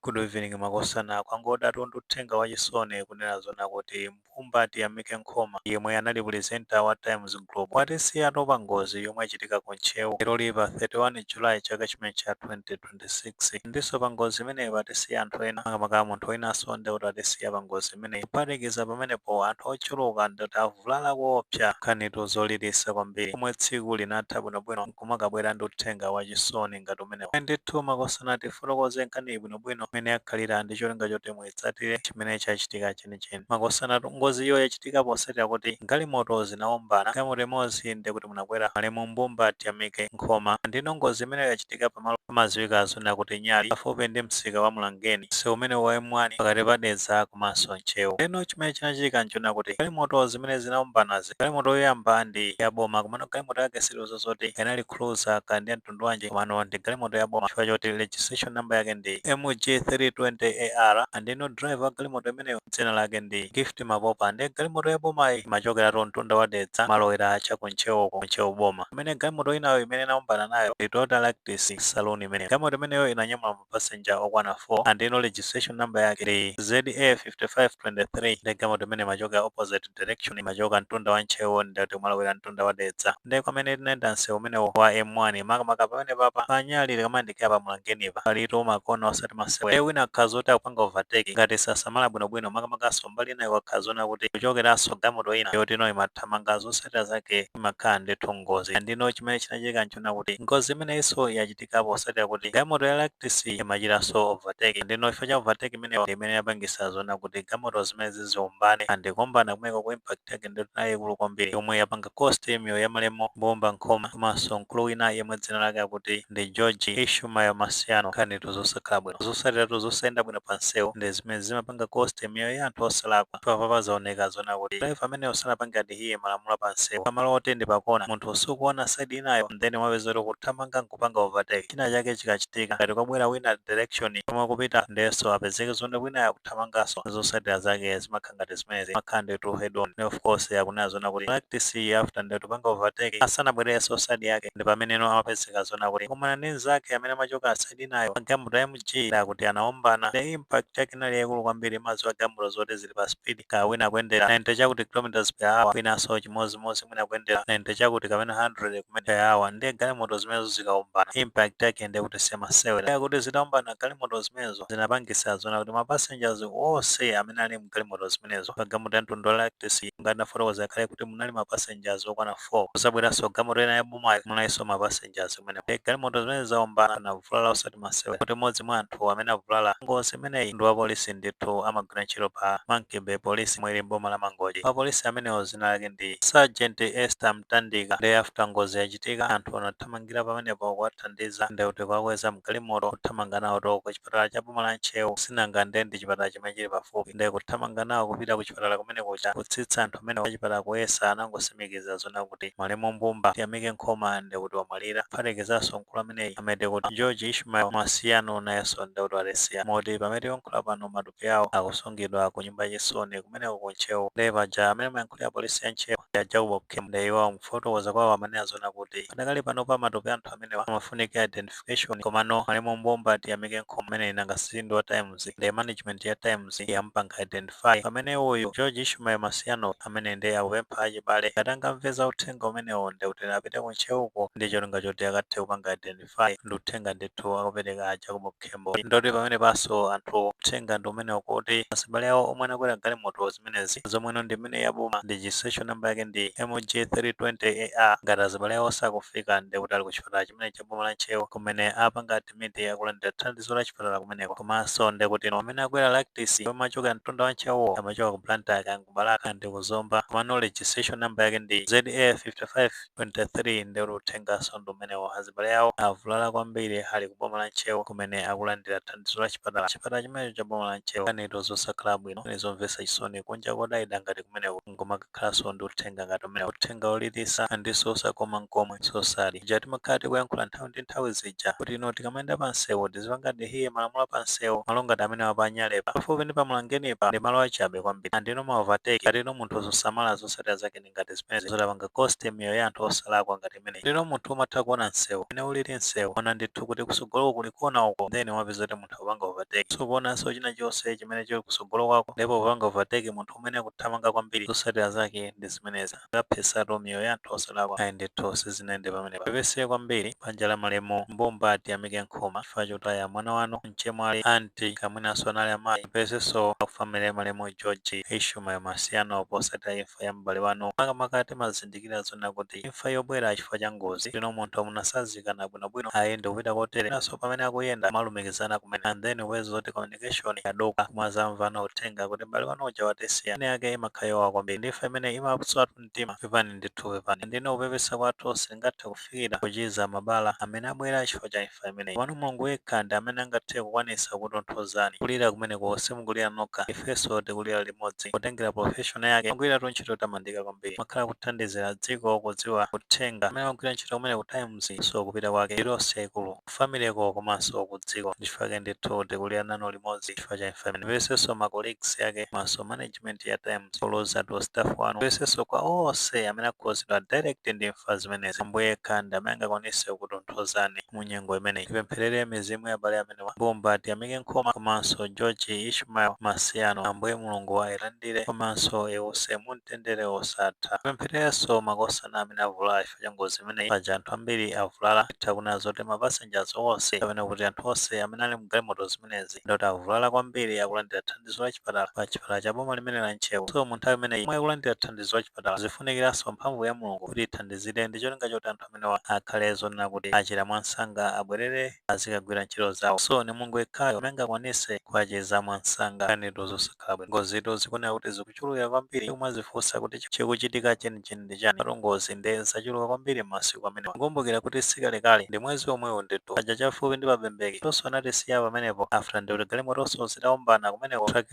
Good evening makosana kwangodatu ndi uthenga wachisoni kunena zona kuti Mbumba Tiyamike Nkhoma yemwe anali presenter wa Times Group watisiyatu pa ngozi yomwe yachitika ku Ntcheu leroli pa 31 July chaka chimenechi cha 2026 ndinso pa ngozi imeneyi patisiya anthu ena makamaka munthu winanso ndekuti watisiya pa ngozi imeneyi kuphatikiza pamenepo anthu ochuluka ndekuti avulala koopsa nkhanitu zolilisa kwambiri pomwe tsiku linatha bwinobwino. kumakabwera ndi uthenga wachisoni ngati umenewo. Ayi ndithu makosana tifotokoze nkhaniyi bwinobwino mmene yakhalira ndi cholinga choti muitsatire chimene chachitika chenicheni. Makosanatu ngoziyo yachitika potsatira kuti galimoto zinaombana, galimoto imodzi ndiye kuti munakwera malemu Mbumba Tiyamike Nkhoma. Ndiyeno ngozi imeneyo yachitika pa malo pamadziwika zona kuti Nyali pafupi ndi msika wa Mlangeni, msewu umenewu wa M1 pakati pa Dedza komanso Ntcheu. Ndiyeno chimene chinachitika n'chonena kuti galimoto zimene zinaombanazi, Galimoto yoyamba ndi ya boma komano galimoto yake siliuza zoti inali cruiser ka ndi ya mtundu wanji komano ndi galimoto ya boma chifukwa choti registration number yake ndi MG320AR ndiyeno driver wa galimoto imeneyo dzina lake ndi Gift Mapopa ndiye galimoto ya bomayi imachokeratu mtunda wa Dedza malowera cha ku Ntcheu ku Ntcheu boma. Pamene galimoto inayo imene inaombana nayo ndi Toyota Ractis saloon imeneyo. Galimoto imeneyo inanyamula mapassenger okwana 4 ndiyeno registration number yake ndi ZA 5523 nde galimoto imene imachokera opposite direction imachoka mtunda wa Ntcheu ndati kumalowera mtunda wa Dedza nde kwa amene tinayenda msewu umenewu wa M1 makamaka pamene papa pa Nyali tikamayandikira pa Mlangenipa palitu makona osati masewera nde wina akhala zoti akupanga overtake ngati sasamala bwinobwino makamakanso mbali inayo kwakhala zona kuti kuchokeranso galimoto ina yotino imathamanga zotsatira zake imakhala ndithu ngozi ndiyeno chimene chinachitika ncho kunena kuti ngozi imeneyinso yachitika potsatira kuti galimoto ya Ractis imachitanso overtake ndeno chifukwa cha overtake imeneyo ndi imene yapangisa zonena kuti galimoto zimenezi ziwombane and kuwombana kumeneko ku impact yake ndi yayikulu kwambiri yomwe yapanga cost miyoyo ya malemu Mbumba Nkhoma komanso mkulu wina yemwe dzina lake akuti ndi George Ishmael Masiyano nkhanitu zosakhala bwino zotsatiratu zosayenda bwino pa msewu ndi zimene zimapanga cost miyoyo ya anthu osalakwa chifukwa papa zaoneka zonena kuti driver ameneyo sanapange adi iye malamulo a pa msewu pamalo oti ndi pakona munthu sukuona side inayo and then umapeza kuti ukuthamanga nkupanga overtake china chake chikachitika ngati kwabwera wina direction yomwe ukupita ndiyenso apezeke zoti winayo akuthamanganso zotsatira zake zimakhala ngati zimenezi zimakhala ndithu head on nde of course akunena zona kuti Ractis after ndi kupanga overtake asanabwererenso side yake ndi pameneno amapezeka zona kuti kumana ndi mzake amene amachoka side inayo wa galimoto ya MG ndekuti anaombana nde impact yake inali yaikulu kwambiri mumadziwa galimoto zoti zi- pa speed ka wina akuyendera 90 chakuti km per hour winanso chimodzimodzi mwina akuyendera 90 chakuti kapena 100 km per hour ndiye galimoto zimenezo zikaombana impact yake ndiye kuti si masewera ndiye kuti zitaombana galimoto zimenezo zinapangisa zona kuti ma passengers onse amene ali mgalimoto zimenezo pa galimoto ya mtundu wa Ractis ngati nafotokoza kale kuti munali ma passengers okwana kuzabweranso galimoto ina ya bomayo munalinso ma passengers kumene galimoto zimene zaombana anavulala osati masewera kuti mmodzi mwa anthu amene avulala ngozi imeneyi ndi wapolisi ndithu amagwira ntchito pa Monkey Bay Police yomwe ili m'boma la Mangochi wapolisi amenewo zina lake ndi Sergeant Esther Mtandika nde after ngozi yachitika anthu anathamangira pamenepo kuwathandiza nde kuti kuwakweza mgalimoto kuthamanga nawo to ku kuchipatala cha boma la Ntcheu sinanga nde ndi chipatala chimene chili pafupi nde kuthamanga nawo kupita kuchipatala kumeneko kutsitsa anthu amenewo achipatala kuyesa anangosimikiza zonna kuti malemu Mbumba Tiyamike Nkhoma nde kuti wamwalira kuphatikizanso mkulu ameneyi amati kuti George Ishmael Masiano nayenso nde kuti watisiya moti pamene tikuyankhula pano matupi awo akusungidwa ku nyumba ya chisoni kumeneko ku Ntcheu nde paja amene amayankhulira polisi ya Ntcheu ndi a Jacob Khembo nde iwo mukufotokoza kwawo amanena zonna kuti padakali panopa matupi a anthu amenewa amafunika identif cation komano malemu Mbumba Tiyamike Nkhoma ameneyi nanga si ndi wa Times nde management ya Times yamupanga identify pamene uyu George Ishmael Masiano amene nde akupempha achibale ngati angamve uthenga umenewu ndekuti apite ku Ntcheuko ndi cholinga choti akathe kupanga identify ndi uthenga ndithu akupereka a Jacob Khembo. Ndoti pamenepanso anthu uthenga ndi umenewu kuti azibale awo omwe anakwera galimoto zimenezi zomwe ina ndi imeneyi ya boma ndi registration number yake ndi MG 320 AR ngati azibale awo sakufika ndekuti ali ku chipatala chimene cha boma la Ntcheu kumene apanga admit akulandira thandizo la chipatala kumeneko. Komanso nde kuti amene akwera Lactis omwe amachokera mtunda wa Ntcheuwo amachoka ku Blantyre kaya ku Balaka ndi ku Zomba komano registration number yake ndi ZA 5523 nde kuti uthenganso ndi umenewo. Azibale awo avulala kwambiri ali ku boma la Ntcheu kumene akulandira thandizo la chipatala. Chipatala chimenecho cha boma la Ntcheu. Nkhanitu zosakhala bwino, nkhani zomvetsa chisoni, kunja kodayida ngati kumeneku. nkumakakhalanso ndi uthenga ngati umenewo. Uthenga wolilisa ndinso osakoma nkomwe. So sad. Ija timakhala tikuyankhula nthawi ndi nthawi zija kuti you know tikamayenda pa nsewu tizipanga adhere malamulo a pa nsewu. Malo ngati amenewa apa a Nyalepa, pafupi ndi pa Mlangenipa ndi malo achabe kwambiri. And you know ma overtake ngati you know munthu susamala zotsatira zake ndi ngati zimenezi zotapanga cost miyoyo ya anthu osalakwa ngati imeneyi. Ndeno munthu umatha kuona nsewu mmene ulili nsewu waona ndithu kuti kusogoloko kuli kona uko then umapeza kuti munthu akupanga overtake. Sukuonanso china chonse chimene chili kusogolo kwako ndipo popanga overtake munthu umene ukuthamanga kwambiri zosatira zake ndi zimenezi akaphesatu miyoyo ya anthu osalakwa ayi ndithu sizinayende pamenepa pepese kwambiri banja la malemu mbumba tiyamike nkhoma chifukwa chotaya mwana wanu mchemwali anti kapenanso anali amayi pepesenso a ku family malemu George Ishmael Masiano posatira imfa ya m'bale wanu makamaka timazindikira zona kuti kuti imfa yobwera chifukwa cha ngozi you know munthu munasazikana bwino bwino ayi ndikupita kotere naso pamene akuyenda kumalumikizana kumene and then kupeza zoti communication yaduka kumazamvano uthenga kuti mbale wanu uja watisiya nkhani yake imakhala yowawa kwambiri ndi imfa imene imapswatu mtima pepani ndithu pepani and you know kupepesa kwathu sikungathe kufikira kuchiza mabala amene abwera chifukwa cha imfa imeneyi komano mulungu yekha ndi amene angathe kukwanisa kutonthozani kulira kumeneko simukulira nokha ifeso tikulira limodzi potengera profession yake amagwiratu ntchito yotamandika kwambiri kwambiri kumakhala kuthandizira dziko kudziwa uthenga amene amagwira ntchito kumene ku times so kupita kwake ndi loss yaikulu ku family yo komanso ku dziko ndichifukwa chake ndithu tikulira nanu limodzi chifukwa cha imfa imene ndipepesenso ma colleagues ake komanso management ya times poloza to staff wanu ndipepesenso kwa onse amene akhuzidwa direct ndi imfa zimenezi ambuye yekha ndi amene angakwanise kutonthozani mu nyengo imeneyi tipempherere mizimu ya abale amene amenewa Mbumba Tiyamike Nkhoma komanso George Ishmael Masiano Ambuye Mulungu ailandire komanso iwuse mumtendere wosatha. Tipemphererenso makosana amene avulala chifukwa cha ngozi imeneyi paja anthu ambiri avulala titha kunena zoti ma passengers onse kapena kuti anthu onse amene anali mu galimoto zimenezi ndi oti avulala kwambiri akulandira thandizo la chipatala pa chipatala cha boma limene la Ntcheu so mu nthawi imeneyi yomwe akulandira thandizo la chipatala zifunikiranso mphamvu ya Mulungu kuti ithandizire ndi cholinga choti anthu amenewa akhale zonena kuti achira mwansanga abwerere azikagwira ntchito zawo so ni mulungu yekhayo amene angakwanise kuwachiza mwansanga nkhanitu zosakhala bwino ngozitu zikuoneka kuti zikuchulukira kwambiri ndi kumazifunsa kuti chi- chikuchitika chenicheni ndi chani patu ngozi nde zachuluka kwambiri mmasiku amenewa kukumbukira kuti sikalekale ndi mwezi omwewu nditu paja chafupi ndi pabembeke anthunso anatisiya pamenepo after ndi kuti galimotonso zitaombana kumeneko truck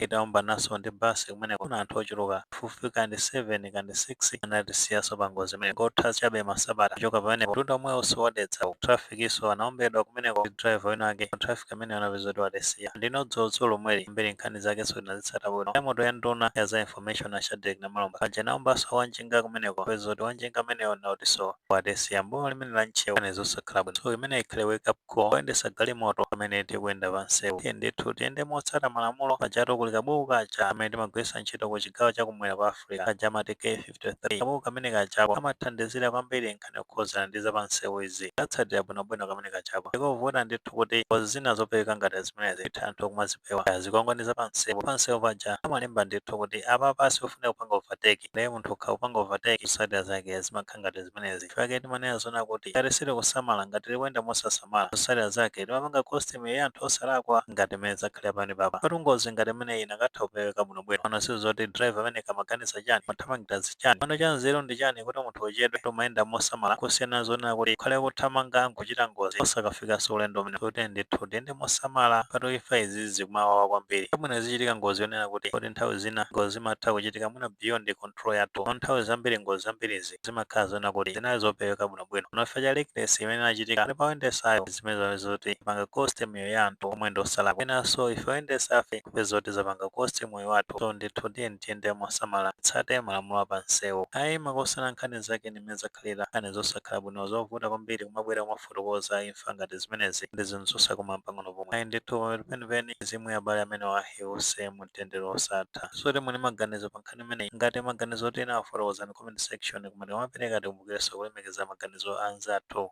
itaombananso ndi basi kumeneko kuna anthu ochuluka pafupifupi kaya ndi 7 kaya ndi 6 anatisiyaso pa ngozi imeneyo kungotha chabe masabata kuchoka pamenepo mtunda omwewo wa Dedza wa traffic so anaombedwa kumeneko ndi driver wina wake wa traffic ameneyo anapeza kuti watisiya ndiye dzulodzulo lomweli ambiri nkhani zake tinazitsata bwino galimoto ya nduna ya za information a Shadreck Namalomba paja anaombaso wanjinga kumeneko kupeza kuti wanjinga ameneyo naye akutiso watisiya m'boma limene la Ntcheu nkhani zosakhala bwino so imeneyi ikhale wake up Call oyendetsa galimoto pamene tikuyenda pa msewu, tiyeni ndithu tiyende motsata malamulo. Pajatu kuli kabuku kaja kamene timagwiritsa ntchito ku chigawo cha kumwera kwa Africa, kaja amati K53. Kabuku kamene kajako kamathandizira kwambiri nkhani yokhudzana ndi za pa msewu izi. Tikatsatira bwinobwino kamene kajako, ndi kovuta ndithu kuti ngozi zina zopeweka ngati zimenezi titha anthu kumazipewa. Kaya zikwangwani za pa msewu, pa msewu paja amalemba ndithu kuti apapa sikofunika kupanga overtake. Ndiye munthu ukakapanga overtake, zotsatira zake zimakhala. ngati zimenezi. Chifukwa chake timanena zonena kuti tikalephera kusamala, ngati tikuyenda mosasamala, zotsatira zake timapanga cost miyoyo ya anthu osalakwa ngati mmene zakhalira pamenepapa. Pajatu ngozi ngati imeneyi inakatha kupeweka bwinobwino. Komano kaya zoti driver ameneyo amaganiza chani? Amathamangira chani? Komano cha nzeru ndi chani kuti munthu uchedwe, koma ukuyenda mosamala, kusiyana n'zonena kuti ukhale ukuthamanga n'kuchita ngozi osakafikanso ulendo umenewo. Tiyeni ndithu tiyende mosamala, pajatu imfa izizi zikumawawa kwambiri. Bola mwina izichitika ngozi yonena kuti, poti nthawi zina ngozi zimatha kuchitika mwina beyond con. control yathu. Komano nthawi zambiri ngozi zambirizi zimakhala zonena kuti zinali zopeweka bwinobwino. Komano chifukwa cha reckless imene inachitika pakati pa oyendesayo ndi zimene zapeza zoti yapanga cost miyoyo ya anthu omwe ndi osalakwa. Mwinanso ife oyendesafe kupeza zoti zapanga cost miyoyo yathu. So ndithu tiyeni tiyende mosamala titsate malamulo a pa msewu. Ayi makosana nkhani zake ndi mmene zakhalira. Nkhani zosakhala bwino zovuta kwambiri kumabwera mofulumira. kufotokoza imfa ngati zimenezi ndi zinthu zosakoma m'pang'ono pomwe. Ayi ndithu, pamapeto penipeni, mizimu ya abale amenewa iwuse mu mtendere wosatha. So timve maganizo pa nkhani imeneyi? Ngati maganizo otani, afotokozeni mu comment section koma tikamapereka tikumbukirenso kulemekeza maganizo a anzathu.